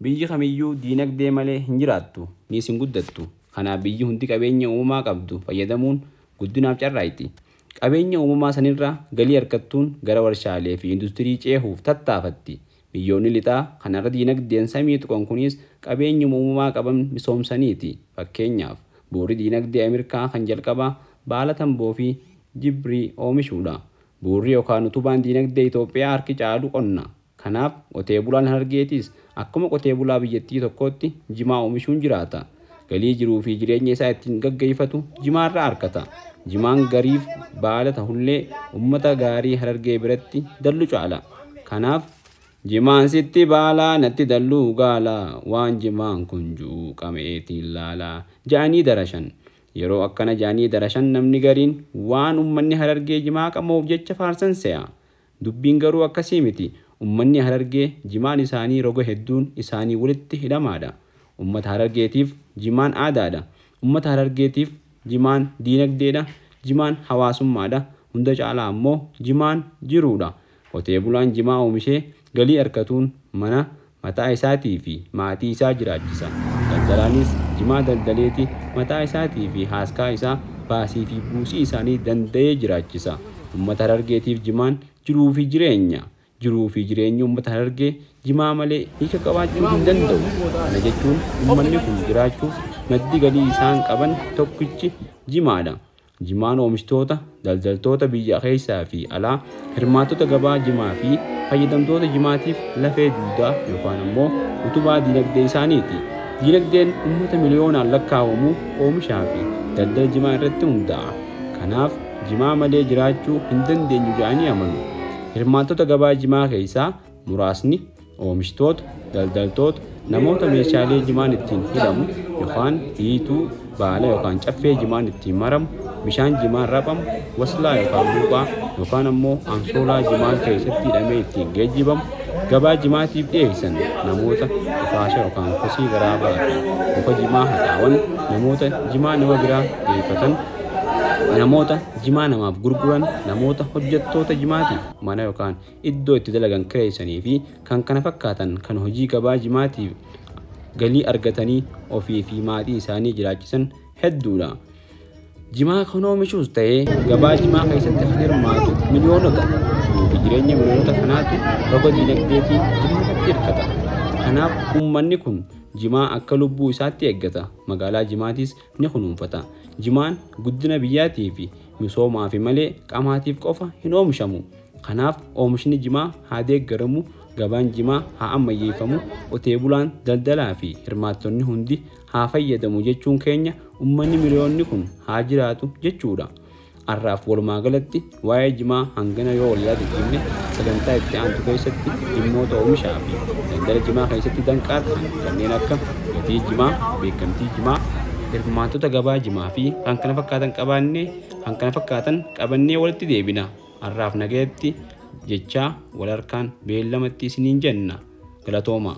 Biyyi kamiyyuu diinagdee malee hin jiraattu, niis hin guddattu. Kanaaf biyyi hundi qabeenya uumamaa qabdu fayyadamuun guddinaaf carraaqxi. Qabeenya uumamaa sanirraa galii argattuun gara warshaaleefi industirii ceehuuf tattaafatti. Biyyoonni Lixaa kan har'a diinagdeen samii tuqan kunis qabeenyuma uumamaa qaban misoomsaniiti. Fakkeenyaaf, bu'uurri diinagdee Amirkaa kan jalqabaa baala tamboofi jibrii oomishuudha. Bu'uurri yookaan utubaan diinagdee Itoophiyaa harki caalu qonna. Kanaaf, qotee bulaan Harargeetis akkuma qotee bulaa biyyattii tokkootti jimaa oomishuun jiraata. Galii jiruu fi jireenya isaa ittiin gaggeeffatu jimaarraa arkata. Jimaan gariif baala tahullee ummata gaarii Harargee biratti dallu caala. Kanaaf. Jimaan sitti baala natti dalluu gaala waan jimaan kun ju'u qama'eetiin laala ja'anii darashan. Yeroo akkana ja'anii darashan namni gariin waan ummanni Harargee jimaa qama'uuf jecha faarsan seya. Dubbiin garuu akkasii miti. Ummanni Harargee jimaan isaanii roga hedduun isaanii walitti hidhamaadha. Ummata Harargeetiif jimaan aadaadha. Ummata Harargeetiif jimaan diinagdeedha, jimaan hawaasummaadha, hunda caalaa ammoo jimaan jiruudha. Qotee bulaan jimaa oomishee galii arkatuun mana, mataa isaatii fi maatii isaa jiraachisa. Daldalaanis jimaa daldaleeti mataa isaatii fi haaskaa isaa baasii fi buusii isaanii danda'ee jiraachisa. Ummata Harargeetiif jimaan jiruu fi jireenya. Jiruu fi jireenyi ummata Harargee jimaa malee hiika qabaachuu hin danda'u. Kana jechuun ummanni kun jiraachuuf maddi galii isaan qaban tokkichi jimaadha. Jimaan oomishtoota, daldaltoota biyya keessaa fi alaa, hirmaattota gabaa jimaa fi fayyadamtoota jimaatiif lafee dugdaa yookaan ammoo utubaa diinagdee isaaniiti. Diinagdeen uummata miliyoonaan lakkaa'amu oomishaa fi daldala jimaa irratti hundaa'a. Kanaaf jimaa malee jiraachuu hin dandeenyu jedhanii amanu. Hirmaattota gabaa jimaa keessaa muraasni Oomishtoota, daldaltoota, namoota meeshaalee jimaan ittiin hidhamu yokaan hiituu, baala yokaan caffee jimaan ittiin maramu, bishaan jimaan raphamu, waslaa yokaan buuphaa, yokaan ammoo ansoolaa jimaan keessatti hidhamee ittiin geejjibamu, gabaa jimaatiif dhiyeessan, namoota qufaasha yokaan kosii garaa baatan, muka jimaa haxaawan, namoota jimaa nama biraa geeffatan, namoota jimaa namaaf gurguran, namoota hojjattoota jimaatiif mana yokaan iddoo itti dalagan kireessanii fi kkf kan hojii gabaa jimaatiin galii argatanii ofii fi maatii isaanii jiraachisan hedduudha. Jimaa kan oomishuus ta'ee gabaa jimaa keessatti kan hirmaatu miliyoonota fi jireenya miliyoonota kanaatu roga diinagdeetiin jimaatti hirkata. Kanaaf uummanni kun jimaa akka lubbuu isaatti eeggata. Magaalaa jimaatiis ni kunuunfata. Jimaan guddina biyyaatii fi misoomaafi malee qamaatiif qofa hin oomishamu. Kanaaf oomishni jimaa haa deeggaramu, gabaan jimaa haa ammayyeeffamu, qotee bulaan, daldalaa fi hirmaattonni hundi haa fayyadamu jechuun keenya ummanni miliyoonni kun haa jiraatu jechuu dha. Har'aaf walumaa galatti waa'ee jimaa hangana yoo wal yaadachiifne sagantaa itti aantu keessatti dhimmoota oomishaa fi daldala jimaa keessatti danqaa tahan kanneen akka gatii jimaa, beekkamtii jimaa, hirmaattota gabaa jimaa fi kkf qabaannee kkf qabannee walitti deebina. Arraaf nagayatti jechaa wal harkaan beellamatti isiniin jenna. Galatoomaa!